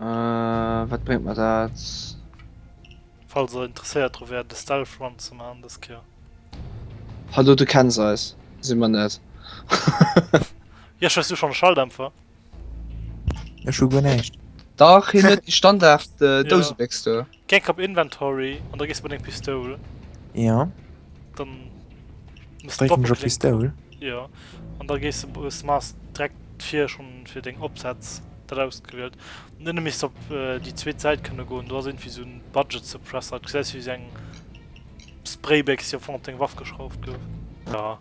Äh, wat bréngt mer dat? Falls der interesséiert dru wäert e Stealth Run ze man des Kéier. Hallo, du kenns eis. Sinn mer net. Jesch, hues du schonn e Schalldämpfer? Ech hu guer näischt. Dach, hien huet déi Standard Dousebécks do. Gek op inventory an da gees mat eng pistoul ja dann pistoul ja an da gees mas dreck vir schon fir deng opsatz dat ausgewielt nenne mis op die zweet seit kënne goen du hast irgendwie so'n budget ze press hat se wie seng spraybecks jo fond deng waff geschrauft gouf ja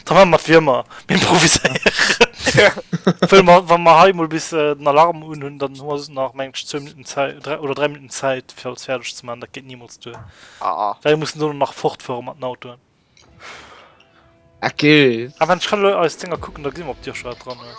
Da man mat Wiermer improviséieren. Wa mer hei mol bis den Alarm un hunn, dann hu se nach mengg 2 Minutten Zäit oder 3 Minutten Zäit fir alles fäerdeg ze man, dat geet niemols duer. Well mir mussen do nach fortfuere mat den Autoen. Ech kann elo eis Dinger kucken, da gesi mer op Dir scho wat dran ass.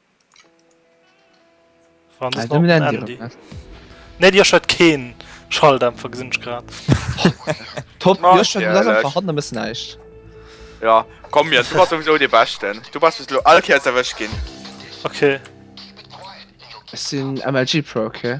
Nee Dir huet keen Schalldämpfer gesinn ech grad. Top verhandle mëssen näischt. Ja komm mir du warst sowieso de beschten. Du warst lo all Keiers erwësch ginn. Okay. Ech sinn MLG Pro, okay?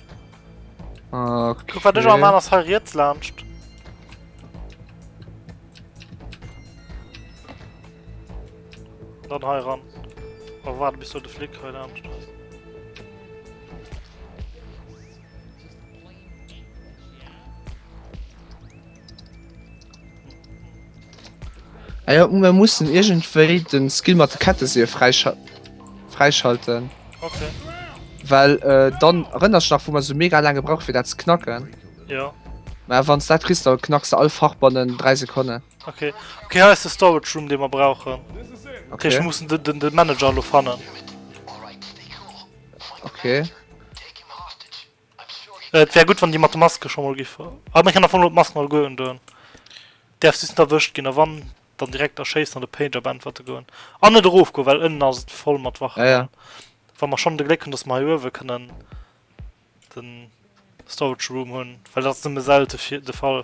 Okay. Guck, wat ech am aner Fall riets lanscht. Dann hei ran. Aber warte, bis du den Flick heute Abend hast. Ah ja, wir müssen irgendwie den Skill mit der Kette sehr freischal freischalten. Okay. Weil äh, dann erinnerst du nach, wo man so mega lange braucht, für das zu knacken. Ja. Na, wenn du das kriegst, dann knackst du alle Fachbannen in 3 Sekunden. Okay. Okay, hier ist der Storage Room, den wir brauchen. Okay. Ich muss den, den, den Manager noch finden. Okay. Et wär gutt wann déi mat de Maske scho mol giff. Ah mir kennen am Fong elo d'Masken alleguer un doen. Däerf sis net erwëscht ginn a wann dann direkt erschéissen an de Pager beäntwerte goen an net erof goen well ënnen ass et voll mat Wachen an wa mer schonn de Gléck hunn dass mer hei uewe kënnen den Storage Room hunn well dat ass nëmme selte de Fall.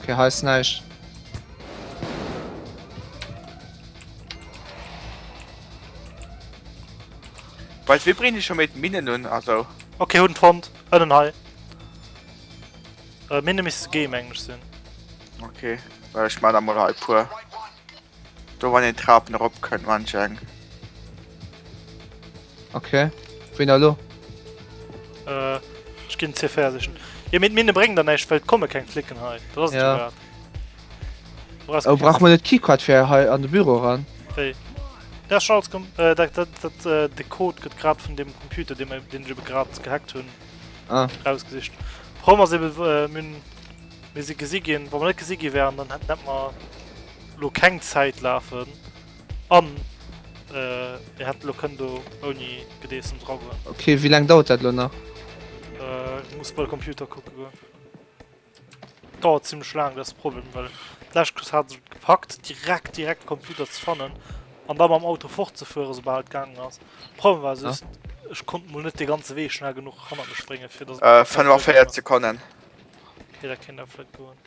Okay, hei ist näischt. Weißt du, wir bringen schon mit Minen nun, also. Okay, hun Front, innen high. Äh, Mine müsste Game Englisch sind. Okay, weil ich meine mal halt pur. Do wann een d'Trapen erop kënnt manch eng. Ok, wéini elo? Ech ginn ze fäerdegen. Jo mee d'Minne bréngen der näischt, well et komme keng Flicken hei. Dat ass et jo grad. Oh, brauche mer net d'Keycard fir hei an de Büro eran? Wéi? Dat ass schonn alles kom. Dat, dat, dat, de Code gëtt grad vun deem Computer, dee mer, deen ech ebe grad gehackt hunn, erausgesicht. D'Problem ass ebe, mir hunn, mir si gesi ginn. Wa mer net gesi gi wären, dann hätten, hätte mer. Lo keng Zäit lafen an ee hätt lo kënnt do ouni Gedeessems eragoen. Ok, wéi laang dauert dat lo nach? Ech muss bei Computer kucke goen. Dauert zimlech laang, dat ass de Problem, well d'lescht Quiz hat ech et gepackt direkt direkt de Computer ze fannen an da mam Auto fortzefuere soubal et gaangen ass. De Problem war just, ech konnt mol net dee ganze Wee schnell genuch hannert mech bréngen, fir dass et. 45 Sekonnen. Ok, dat kéint awer vläit goen.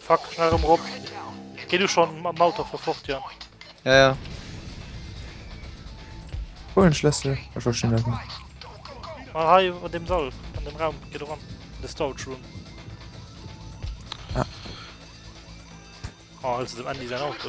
Fuck, schnell rem rop. Geh du schon am Auto vor fort, Jan. Ja, ja. Wo den Schlüssel? Ich war schon da. Mal hei an dem Sall, an dem Raum, geh du ran. In the storage room. Ah. Oh, also dem Andy sein Auto.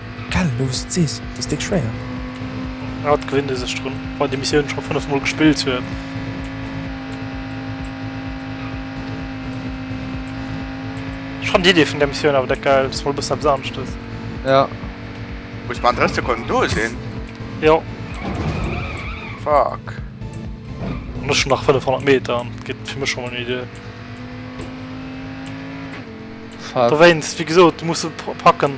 Gell, elo wous de et sees, et ass déck schwéier. Haut gewinnt ee sech drun, wann een déi Missioun scho 5 mol gespillt huet. Ech fannen d'Idee vun där Missioun awer deck geil, dass mol e bëssen eppes anescht ass. Ja. Muss mer an 3 Sekonnen do sinn? Jo. Fuck. An ech hunn nach 500 Meter an et gëtt fir mech scho mol méi duer. Fuck. Dowéinst, wéi gesot, muss e packen.